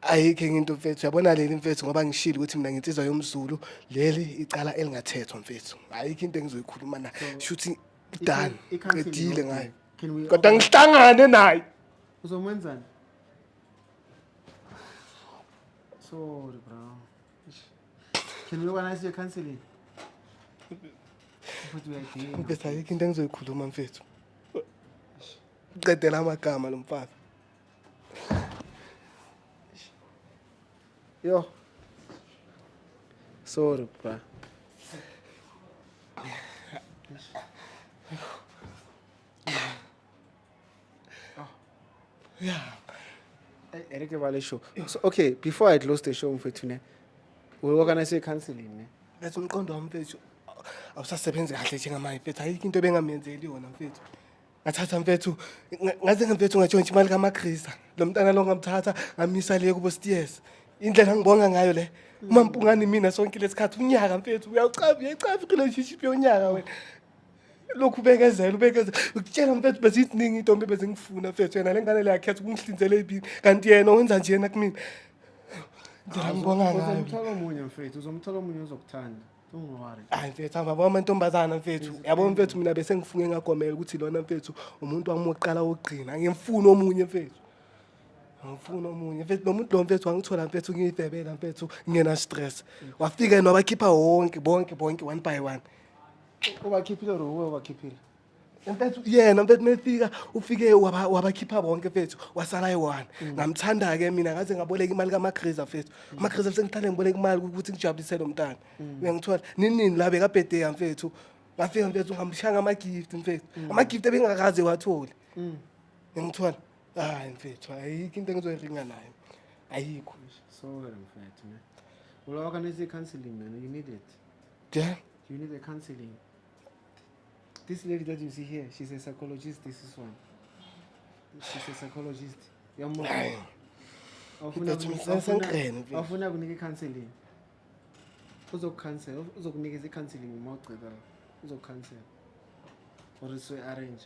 ayikho enye into mfethu yabona leli mfethu ngoba ngishilo ukuthi mina ngintizwa yomzulu leli icala elingathethwa mfethu ayikho into engizoyikhuluma na shuthi done qedile ngayo kodwa ngihlangane naye uzomwenzani sorry bro can we organize your counseling mfethu ayikho into engizoyikhuluma mfethu qedela amagama lo mfana Yo. Sorry, bra. Yeah. Eric Vale show. So okay, before I close the show mfethu ne. We organize a counseling ne. That's umqondo wami mfethu. Awusasebenzi kahle njengamanje mfethu. Ayikho into ebengamenzeleli yona mfethu. ngathatha mfethu nga- ngaze ngamfethu ngatshontsha imali kamagrisa lo mntana lo ngamthatha ngamisa le kubo stiyes indlela ngibonga ngayo le uma mpungani mina sonke lesikhathi unyaka mfethu uyawucaba uyayicafa irelationship yonyaka wena lokhu ubekezela ubekezela ukutshela mfethu beziziningi intombi bezingifuna mfethu yena le ngane le yakhetha ukungihlinzela ibini kanti yena wenza njena kumina ndlela ngibonga ngayo uzomthola omunye mfethu uzomthola omunye ozokuthanda Ungwari. hayi mfethu angibabo amantombazana mfethu yabo mfethu mina bese ngifunge ngagomela ukuthi lona mfethu umuntu wami wokuqala wokugcina ngimfuna omunye mfethu ngimfuna omunye mfethu lo muntu lo mfethu wangithola mfethu ngiyidebela mfethu ngingena stress wafika yena wabakhipha wonke bonke bonke one by one Ubakhiphile or uwe ubakhiphile? mfethu yena mfethu mefika ufike waba- wabakhipha bonke mfethu wasala eyi-one ngamthanda-ke mina ngaze ngaboleka imali kamagriza mfethu amagriza sengithanda ngiboleka imali ukuthi ngijabulise lo mntana uyangithola nini nini la bekabhedeya mfethu ngafika mfethu ngamshanga ama-gift mfethu ama-gift ebengakaze wathole uyangithola hayi mfethu ayikho into engizoyiringa nayo ayikho Sorry mfethu ne. Ulawa kanisa i-counseling man, you need it. nje You need a counseling. This lady that you see here, she's a psychologist, this is one. She's a psychologist. Yamona. Awufuna That's kunika- awufuna- usengiqhene, mfethu. awufuna kunika i-counseling. Uzokucancel, uzokunikeza i-counseling uma ugceba. Uzokucancel. Or so arrange.